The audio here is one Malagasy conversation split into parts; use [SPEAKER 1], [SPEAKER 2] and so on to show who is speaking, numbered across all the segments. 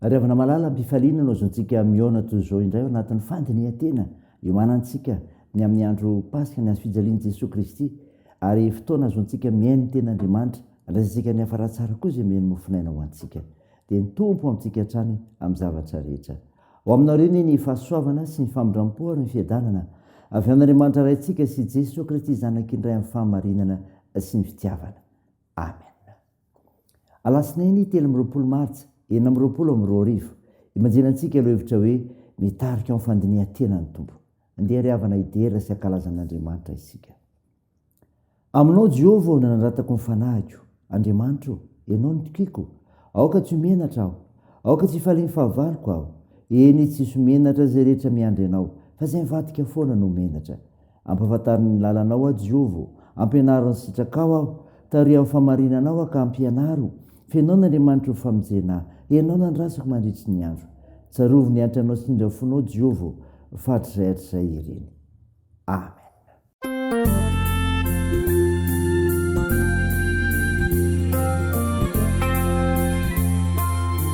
[SPEAKER 1] Ry havana malala, am-pifaliana no azontsika mihaona toy izao indray ao anatin'ny fandinihan-tena iomanantsika ny amin'ny andro Paska, ny Hazo fijalian'i Jesoa Kristy, ary fotoana azontsika mihaino ny Tenin'Andriamanitra, andraisantsika ny hafara tsara koa izay mihaino mofon'aina ho antsika. Dia ny Tompo amintsika hatrany amin'ny zavatra rehetra. Ho aminao re anie ny fahasoavana sy ny famindram-po ary ny fiadanana avy amin'Andriamanitra Raintsika sy Jesoa Kristy Zanakiny Ray amin'ny fahamarinana sy ny fitiavana. Amen. Alatsinainy telo amby roapolo martsa enina amby roapolo amby roa arivo, imajenan antsika ilay hevitra hoe mitarika amin'ny fandinihan-tena ny Tompo. Andeha ry havana hidera sy hankalaza an' Andriamanitra isika. Aminao Jehovah aho no nanandratako ny fanahiko, Andriamanitra o, ianao no tokiko, aoka tsy ho menatra aho, aoka tsy hifalian'ny fahavaloko aho, eny tsy hisy ho menatra izay rehetra miandry anao, fa izay mivadika foana no ho menatra. Ampahafantariny ny lalanao aho, Jehovah ô, ampianaro ny sitrakao aho, tariho amin'ny fahamarinana aho ka ampianaro, fenoy an'Andriamanitra ho famonjena ahy, henao nandrasako mandritry ny andro. Tsarovy ny hanitr'anao sy ny indrafonao, Jehovah ô, fa hatrizay hatrizay ireny. Amen.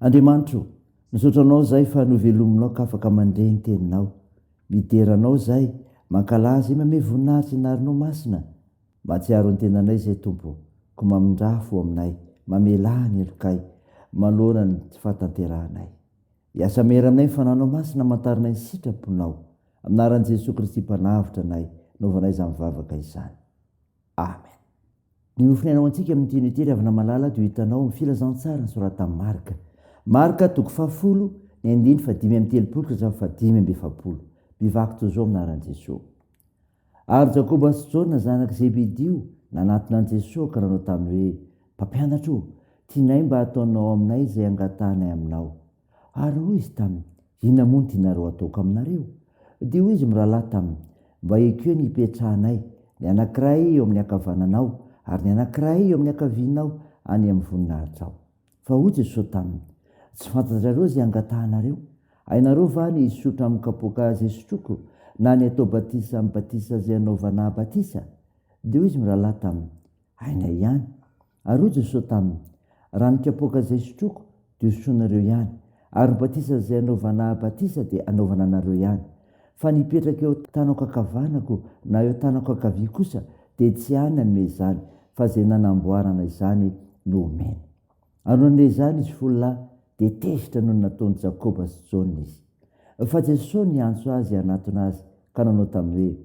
[SPEAKER 1] Andriamanitra o, misaotra Anao zay fa novelominao k'afaka mandre ny teninao. Midera Anao zay, mankalaza i Mame voninahitry ny narinao masina. Mahatsiaro ny tenanay izay Tompo, ko mamindrà fo aminay, mamelà ny helokay, manoloana ny tsy fahatanterahanay. Hiasa mery aminay ny Fananao Masina amantaranay ny sitraponao. Amin'anaran'i Jesoa Kristy Mpanavotra anay, naovanay izany vavaka izany. Amen. Ny nofonaina ho antsika amin'ny teny ity ry havana malala dia ho hitanao amin'ny filazantsaran'ny soratan'i Marka. Marka toko fahafolo, ny andininy fahadimy amby telopolo ka hatramin'ny fahadimy amby efapolo. Mivaky toy izao amin'ny anaran'i Jesoa. Ary Jakoba sy Jaona zanak'i Zebedio nanatona an'i Jesoa ka nanao taminy hoe, Mpampianatra ô, tianay mba hataonao aminay izay angatahanay aminao. Ary hoy izy taminy, Inona moa no tianareo hataoko aminareo? Dia hoy izy mirahalahy taminy, Mba ekeo ny hipetrahanay, ny anankiray eo amin'ny ankavananao, ary ny anankiray eo amin'ny ankavianao any amin'ny voninahitrao. Fa hoy Jesosy taminy, Tsy fantatrareo izay angatahanareo. Hainareo va ny hisotra amin'ny kapoaka izay sotroiko, na ny hatao batisa amin'ny batisa izay hanaovanà batisa? Dia hoy izy mirahalahy taminy, Hainay ihany. Ary hoy Jesosy taminy, Raha ny kapoaka izay sotroiko dia hosotroinareo ihany, ary ny batisa izay anaovana batisa dia anaovana anareo ihany. Fa ny hipetraka eo tanako ankavanako na eo tanako ankavia kosa dia tsy any hanome izany, fa izay nanamboarana izany no omeny. Ary nandre izany izy folo lahy, dia tezitra noho ny nataon'i Jakoba sy Jaona izy. Fa Jesosy niantso azy hanatona Azy ka nanao taminy hoe,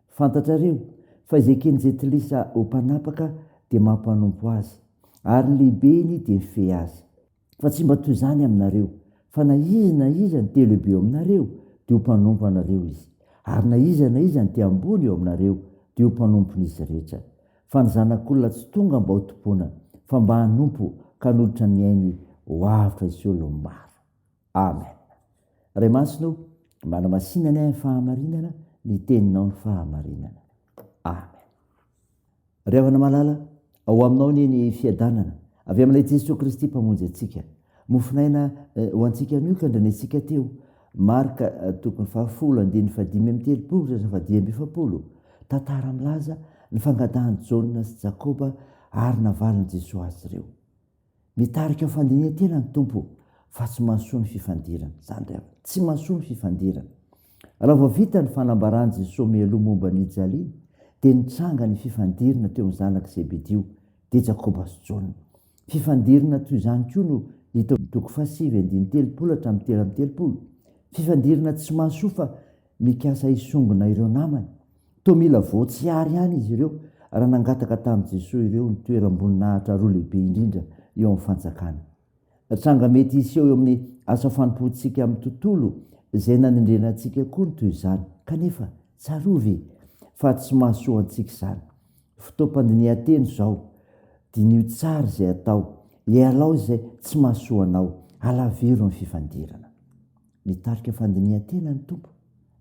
[SPEAKER 1] Fantatrareo fa izay eken'ny jentilisa ho mpanapaka dia mampanompo azy, ary ny lehibeny dia mifehy azy. Fa tsy mba toy izany aminareo, fa na iza na iza ny te-lehibe eo aminareo, dia ho mpanompo anareo izy, ary na iza na iza ny te-ambony eo aminareo, dia ho mpanompon'izy rehetra. Fa ny Zanak'olona tsy tonga mba hotompoina, fa mba hanompo ka hanolotra ny ainy ho avotra hisolo ny maro. Amen. Ray Masina o, manamasinanay amin'ny fahamarinana ny teninao ny fahamarinana. Amen. Ry havana malala, ao aminao anie ny fiadanana avy amin'ilay Jesoa Kristy Mpamonjy antsika. Mofonaina eh, ho antsika anio ka andrenesintsika teo. Marka eh, tokony fahafolo andininy fadimy amin'ny telopolo ka fadimy amby efapolo. Tantara milaza ny fangadahan'i Jaona sy Jakoba ary navalin'i Jesoa azy ireo. Mitarika ho fandinihantena ny Tompo fa tsy mahasoa ny fifandirana. Izany indray aho. Tsy mahasoa ny fifandirana. Raha vao vita ny fanambaran'i Jesosy mialoha momba an'i Jalia, dia nitranga ny fifandirana teo amin'ny zanak'i Zebedio, dia Jakoba sy Jaona. Fifandirana toy izany koa no hita ao amin'ny toko fahasivy andininy telopolo hatramin'ny telo amby telopolo. Fifandirana tsy mahasoa fa mikasa hisongona ireo namany. Toa mila voatsiary ihany izy ireo raha nangataka tamin'i Jesoa ireo ny toeram-boninahitra roa lehibe indrindra eo amin'ny Fanjakana. Tranga mety hiseho eo amin'ny asa fanompoantsika amin'ny tontolo izay nanendrena antsika koa ny toy izany. Kanefa, tsarovy fa tsy mahasoa antsika izany. Fotoam-pandinihan-teny izao. Diniho tsara izay atao. Ialao izay tsy mahasoa anao. Alaviro ny fifandirana. Mitarika fandinihan-tena ny Tompo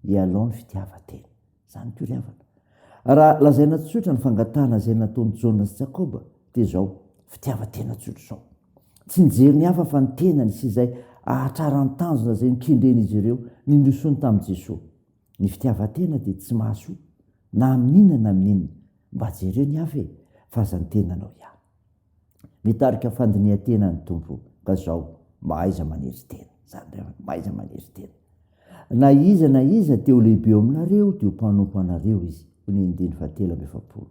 [SPEAKER 1] hialao ny fitiavan-tena. Izany koa ry havana. Raha lazaina tsotra ny fangatahana izay nataon'i Jaona sy Jakoba dia izao, fitiavan-tena tsotra izao. Tsy nijery ny hafa fa ny tenany sy izay ahatrarany tanjona izay nokendren'izy ireo nindrosoany tamin'i Jesoa. Ny fitiavan-tena dia tsy mahasoa na amin'inona na amin'inona. Mba jereo ny hafa e, fa aza ny tenanao ihany. mitarika fandinihan-tena ny Tompo ka zao mahaiza manery tena zany indray andro mahaiza manery tena na iza na iza te ho lehibe eo aminareo de ho mpanompo anareo izy hoy ny andininy fahatelo amby efapolo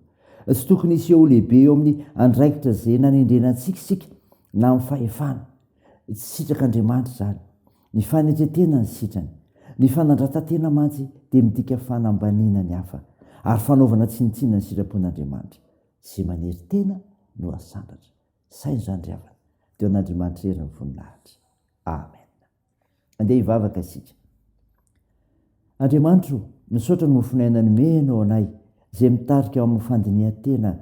[SPEAKER 1] tsy tokony hiseho ho lehibe eo amin'ny andraikitra izay nanendrena antsika isika na amin'ny fahefana tsy sitrak'Andriamanitra izany ny fanetretena ny sitrany ny fanandratan-tena mantsy dia midika fanambaniana ny hafa ary fanaovana tsinontsinona ny sitrapon'Andriamanitra Izay manery tena no hasandratra. Saino izany ry havana. Teo an'Andriamanitra irery ny voninahitra. Amen. Andeha hivavaka isika. Andriamanitra o, misaotra ny mofon'aina nomenao anay, izay mitarika ao amin'ny fandinihan-tena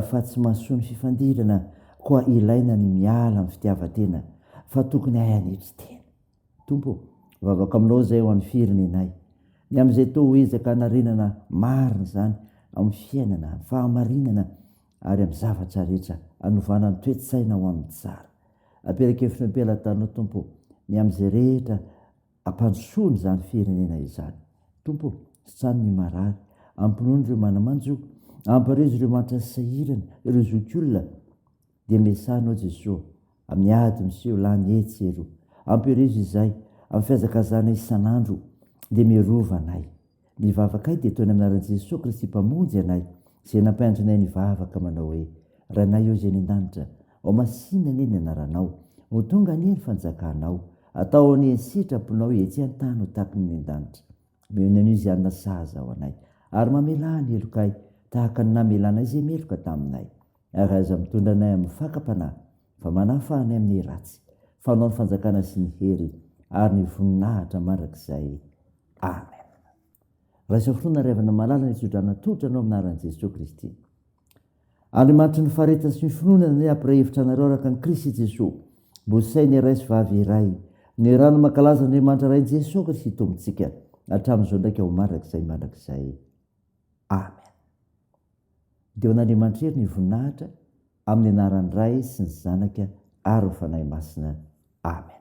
[SPEAKER 1] fa tsy mahasoa ny fifandirana, koa ilaina ny miala amin'ny fitiavan-tena, fa tokony hahay hanetry tena. Tompo ô, vavaka aminao izay ho an'ny firenenay. Ny amin'izay toa ho ezaka hanarenana marina izany amin'ny fiainana, amin'ny fahamarinana ary amin'ny zavatra rehetra, hanovana ny toe-tsaina ho amin'ny tsara. Aperakevitro ny am-pelatananao Tompo ô, ny amin'izay rehetra hampandrosoana izany firenena izany. Tompo ô, sitrano ny marary, ampinono ireo manamanjo, amparizo ireo mahantra sy sahirana, ireo zokiolona, Dia miasà Anao Jesoa amin'ny ady miseho lany etsy eroa. Ampirezo izahay amin'ny fihazakazahana isan'andro dia mirova anay. Ny vavakay dia toy ny amin'ny anaran'i Jesoa Kristy Mpamonjy anay izay nampianatra anay nivavaka manao hoe, Rainay ô Izay any an-danitra, ao masìna anie ny anaranao, ho tonga anie ny fanjakanao, atao anie ny sitraponao etsy an-tany ho tahaka ny any an-danitra. Omeo ny anio izay hanina sahaza ho anay, ary mamelà ny helokay tahaka ny namelanay izay meloka taminay. Ary aza mitondra anay amin'ny fakam-panahy, fa manahy fa any amin'ny ratsy. Fanao ny fanjakana sy ny hery ary ny voninahitra mandrakizay. Amen. Raiso fo na revana malala ny tsodrana tolotra anao amin'ny anaran'i Jesoa Kristy. Andriamanitry ny faharetana sy ny finoana anay hampiray hevitra anareo araka an'i Kristy Jesoa. Mbo say ny ray sy vavy iray. Ny rano mankalaza Andriamanitra Ray Jesoa Kristy Tompontsika hatramin'izao ndraika ho mandrakizay mandrakizay. Amen. Dia ho an'Andriamanitra irery ny voninahitra amin'ny anaran'ny Ray sy ny Zanaka ary ny Fanahy Masina. Amen.